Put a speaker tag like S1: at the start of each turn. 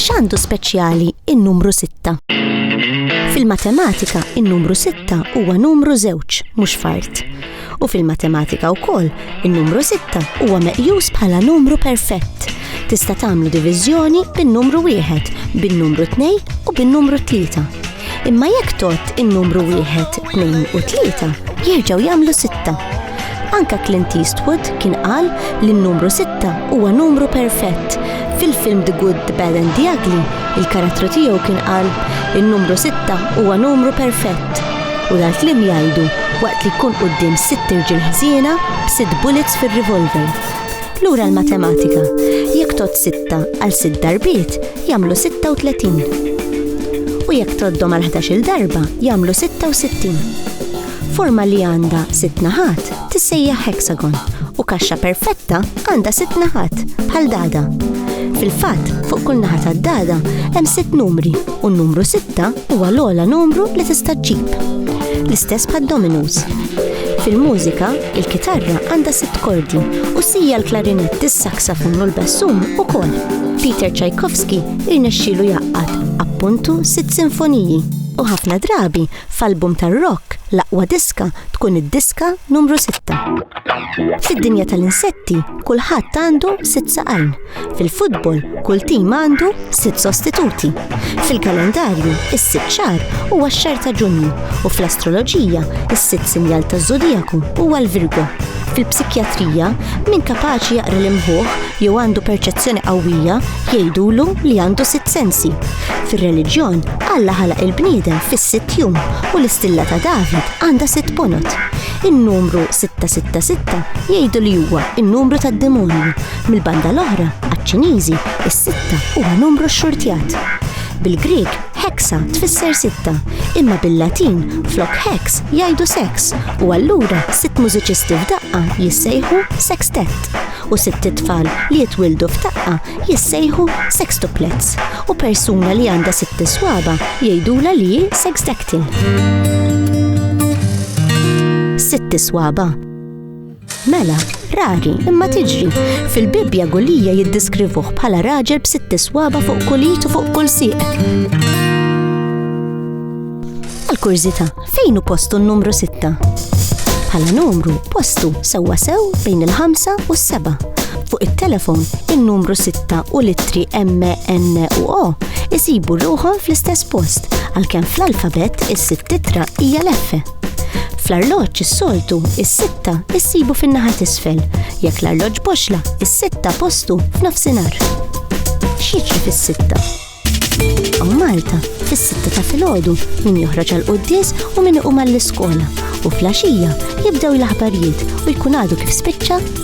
S1: X'għandu speċjali in-numru sitta? Fil-matematika, in-numru sitta huwa numru żewġ, mhux fard. U fil-matematika wkoll, in-numru sitta huwa meqjus bħala numru perfett. Tista' tagħmlu diviżjoni bin-numru wieħed, bin-numru tnejn u bin-numru tlieta. Imma jekk tot in-numru wieħed, tnejn u tlieta jerġgħu jagħmlu sitta. Anka Clint Eastwood kien qal li n-numru sitta huwa numru perfett. Fil-film The Good, The Bad and The Ugly, il-karattru tiegħu kien qal in-numru sitta huwa numru perfett. U dal-klim jgħidu waqt li jkun quddiem sitt irġiel ħżiena b'sitt bullets fir-revolver. Lura l-matematika, jekk tot sitta għal sitt darbiet, jagħmlu 36. U jekk tgħoddhom għal ħdax-il darba jagħmlu 66. Forma li għandha sitt naħat tissejjaħ hexagon u kaxxa perfetta għandha sitt naħat bħal dada. Fil-fatt, fuq kull naħa tad-dada hemm sitt numri u n-numru sitta huwa l-ogħla numru li tista' ġġib. L-istess bħad-dominos. Fil-mużika, Il-kitarra għandha sitt kordi u sija l-klarinett, is-saksafun u l-bassum ukoll. Peter Tchaikovsky irnexxielu jgħaqqad, appuntu, sitt sinfoniji, u ħafna drabi f'album tar-rock l-aqwa diska tkun id-diska numru sitta. Fid-dinja tal-insetti kulħadd għandu sitt saqajn. Fil-futbol, kull tim għandu sitt sostituti. Fil-kalendarju, is-sitt xahar huwa x-xahar ta' Ġunju u fl-astroloġija, is-sitt sinjal taż-żodijaku huwa l-Virgo. Fil-psikjatrija, min kapaċi jaqra l-imħuħ jew għandu perċezzjoni qawwija jgħidulu li għandu sitt sensi. Fir-reliġjon, Alla ħalaq il-bniedem fis-sitt jum u l-istilla ta' David għandha sitt ponot. In-numru 666 jgħidu li huwa n-numru tad-demonju Mill-banda l-oħra, għaċ-Ċiniżi, is-sitta huwa numru xxurtjat. Bil-Grieg, hexa tfisser sitta, imma bil-Latin flok hex jgħidu sex u allura sitt mużiċisti f'daqqa jissejħu sextet u sitt tfal li jitwildu f'daqqa jissejħu sextuplets u persuna li għandha sitt iswaba jgħidula li hi sexdactyl. Sitt iswaba Mela, rari, imma tiġri. Fil-Bibbja Gulija jiddiskrivuh bħala raġel b'sitt iswaba fuq kulit u fuq kull sieq. Għal-kurżita, fejn u postu n-numru sitta? Bħala numru, postu sewwa sew bejn il-ħamsa u s-seba. Fuq it-telefon, il-numru sitta u l-ittri M, N u O isibu ruħom fl-istess post, għalkemm fl-alfabet is-sitt titra hija l-F. Fl-arloġġ is-soltu is-sitta issibu fin-naħa t'isfel. Jekk l-arloġġ boxla, is-sitta postu f'nofsinhar. X'jiġri fis-sitta? U Malta, fis-sitta ta' filgħodu, min joħroġ għal quddies u min iqum għall-iskola. U fl-għaxija jibdew l-aħbarijiet u jkun għadu kif spiċċa